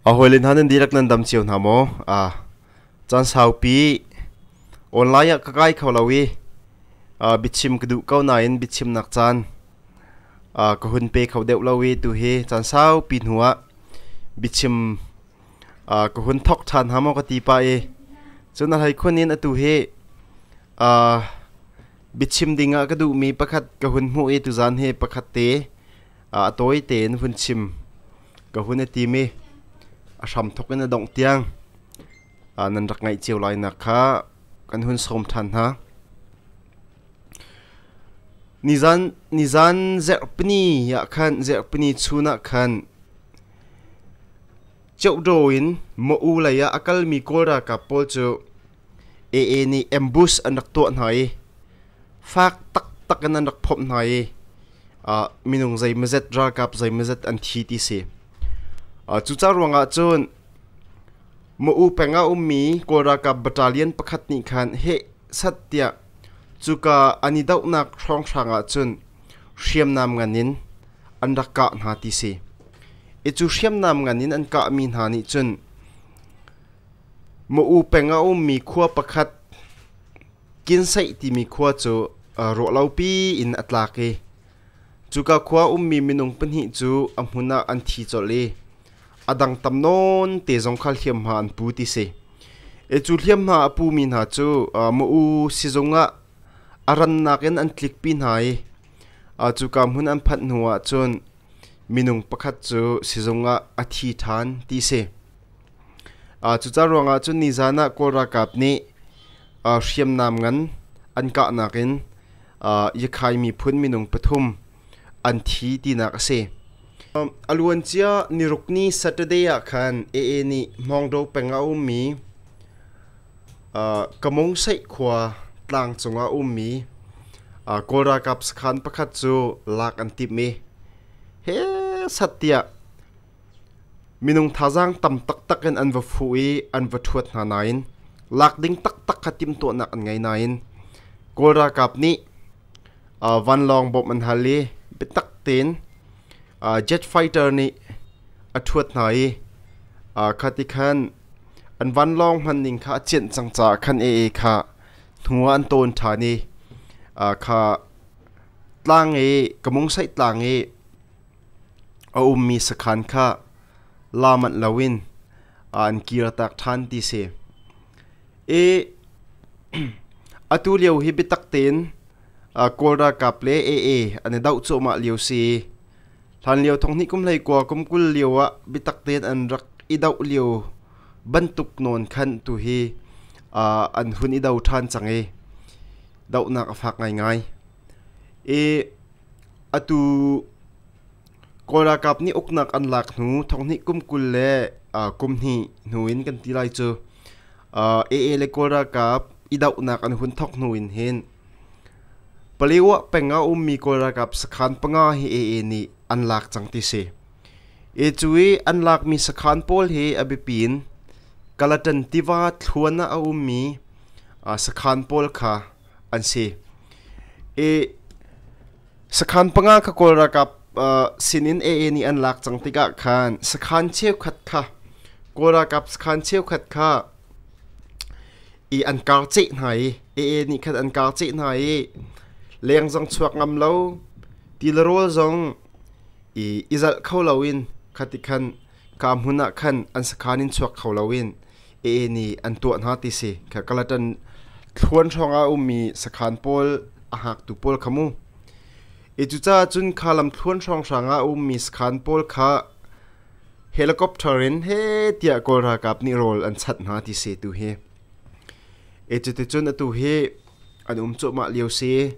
A hawile hna nan dihlak nan dam cio hna maw? Aa, caan saupi online ah ka kai kho lo i aa, biachim ka duh ko nain biachimnak caan aa, ka hun pe kho deuh lo i tu hi caan saupi hnu ah biachim aa, ka hun thok ṭhan hnga maw ka ti pah i cun a hlei khun in atu hi aa, biachim ding ah ka duhmi pakhat ka hun hmuh i tuzaan hi pakhat te a tawi tein vun chim ka hun i tim i a hram thok in a dongh tiang nan rak ngaih cio lai nak kha kan hun sawm ṭhan hna. Nizan nizan zerhpini ah khan zerhpini chun ah khan Cheuhdo in mo u lei ah a kalmi kawl ralkap pawl cu AA nih ambush an rak tuah hna i Fak taktak in an rak phomh hna i uh, minung zei mazet ralkap zei mazet an thi ti si. Uh, cuca ruangah cun Ma'u peng ah ummi Kawl ralkap battalion pakhat nih khan heh sat tiah cuka an i dohnak hrawnghrang ah cun hriamnam ngan in an rak kah hna ti si. I cu hriamnam ngan in an kahmi hna nih cun Ma'u peng ah ummi khua pakhat Kinseih timi khua cu ruahlopi in a tlak i cuka khua ummi minung pahnih cu a hmun ah an thi colh i a dang tam nawn te zong kha hliamhma an pu ti si. E cu hliamhma a pumi hna cu ma-u sizung ah a rannak in an tlikpi hna i cuka hmun an phanh hnuah cun minung pakhat cu sizung ah a thi ṭhan ti si. Cucaah ruangah cun nizan ah Kawl ralkap nih hriamnam ngan an kahnak in Yakhai miphun minung pathum an thi tinak a si. A luancia nirukni Saturday ah khan AA nih Hmawngdo peng ah a ummi Kamungsaih khua tlang cungah a ummi Kawl ralkap sakhan pakhat cu lak an timh i hesat tiah Minung thazaang tam taktak in an va fuh i an va ṭhuat hna nain lak ding taktak kha timhtuahnak an ngei nain Kawl ralkap nih vanlawng bawmh an hal i biatak tein jet fighter nih a ṭhuat hna i khati khan an vanlawng hmanning kha a cianh cang caah khan AA kha hnu ah an tawn ṭhan i kha tlang i ka mungsaih tlang i A ummi sakhan kha la manh loin a an kirtak ṭhan ti si. I atu lio hi biatak tein Kawl ralkap le AA an i doh cuahmah lio si i hlanlio thonghnih kum hlei kua kum kul lio ah biatak tein an rak i doh lio bantuk nawn khan tu hi an hun i do ṭhan cang i dohnak a fak ngaingai. I Atu Kawl ralkap nih uknak an lak hnu thonghnih kum kul le uh, kum hnih hnu in kan ti lai cu uh, AA le Kawl ralkap i dohnak an hun thok hnu in hin Paliwa penga ummi Kawl ralkap sakhan panga hi AA nih an lak cang ti si e cu i an lakmi sakhan pawl hi a biapi in Kalatan tiva thluan ah a ummi uh, sakhan pawl kha an si. I sakhan panga kha kawl ralkap uh, sinin AA nih an lak cang tikah khan sakhan cheukhat kha kawl ralkap sakhan cheukhat kha i an kar ceh hna i AA nih khan an kar ceh hna i leng zong chuak ngam lo ti le rawl zong i izalh kho loin khati khan Ka hmun ah khan an sakhan in chuak kho loin Ee nih an tuah hna ti si. Kha Galatan thluan hrawngah a ummi sakhan pawl a hngaktu pawl kha mu. Hi cucaah cun kha lam thluan hrawnghrang ah a ummi sakhan pawl kha helicopter in he tiah kawl ralkap nih rawl an chanh hna ti se tu hi. E cuticun atu hi an um cuahmah lio si.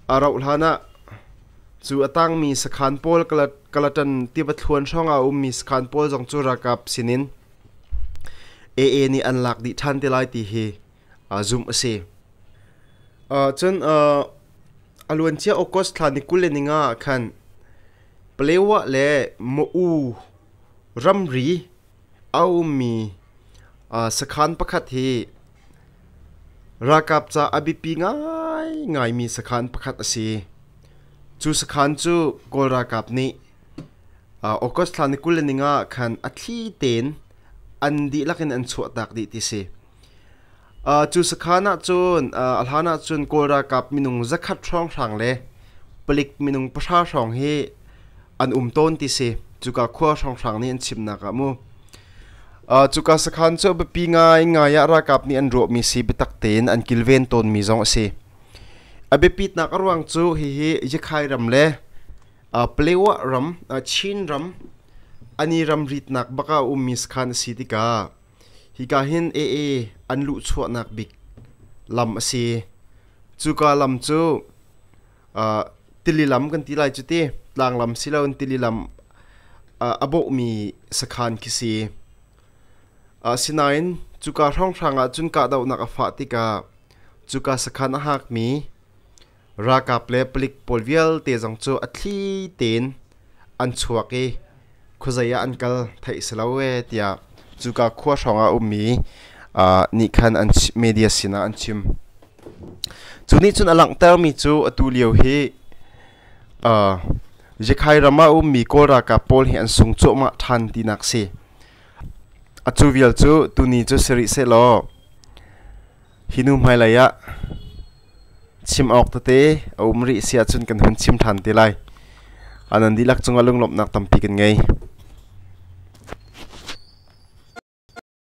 A rauh hlanah cu a tangmi sakhan pawl kalatan tiva thluan hrawngah ummi sakhan pawl zong cu rakap sinin AA nih an lak dih ṭhan te lai ti hi zumh a si. cun a luancia August thla ni kul le ninga ah khan Palewa le Ma'u ramri a ummi sakhan pakhat hi Ralkap ca a biapi ngaingaimi sakhan pakhat a si. Cu sakhan cu Kawl ralkap nih August thla ni kul le ni nga ah khan a thli tein an dihlak in an chuahtak dih ti si. Cu sakhan ahcun a hlan ahcun Kawl ralkap minung zakhat hrawnghrang le palik minung pahra hrawng hi an um tawn ti si cuka khua hrawnghrang nih an chimnak ah mu uh, cuka sakhan cu biapi ngaingai ah ralkap nih an ruahmi si biatak tein an kilven tawnmi zong a si a biapitnak a ruang cu hihi yakhai ram le uh, palewa ram uh, chin ram ani ram ritnak baka ummi sakhan a si tika hika hin aa an luh chuahnak bik lam a si cuka lam cu tili lam kan ti lai cu ti tlanglam si loin tili lam a bawhmi sakhan khi si asinain cuka hrawnghrang ah cun kahdohnak a fah tikah cuka sakhan a hakmi ralkap le palik pawl vialte zong cu a thli tein an chuak i khuazei ah an kal theih si lo e tiah cuka khua hrawng ah a ummi nih khan an media sinah an chim. Cu nih cun a langhtermi cu atu lio hi Yekhai ram ah ummi Kawl ralkap pawl hi an sung cuahmah ṭhan tinak si. A cu vial cu tuni cu si rih seh law Hi nu hmailei ah chim awk tete a um rih si ahcun kan hun chim ṭhan te lai. A nan dihlak cungah lunglawmhnak tampi kan ngei.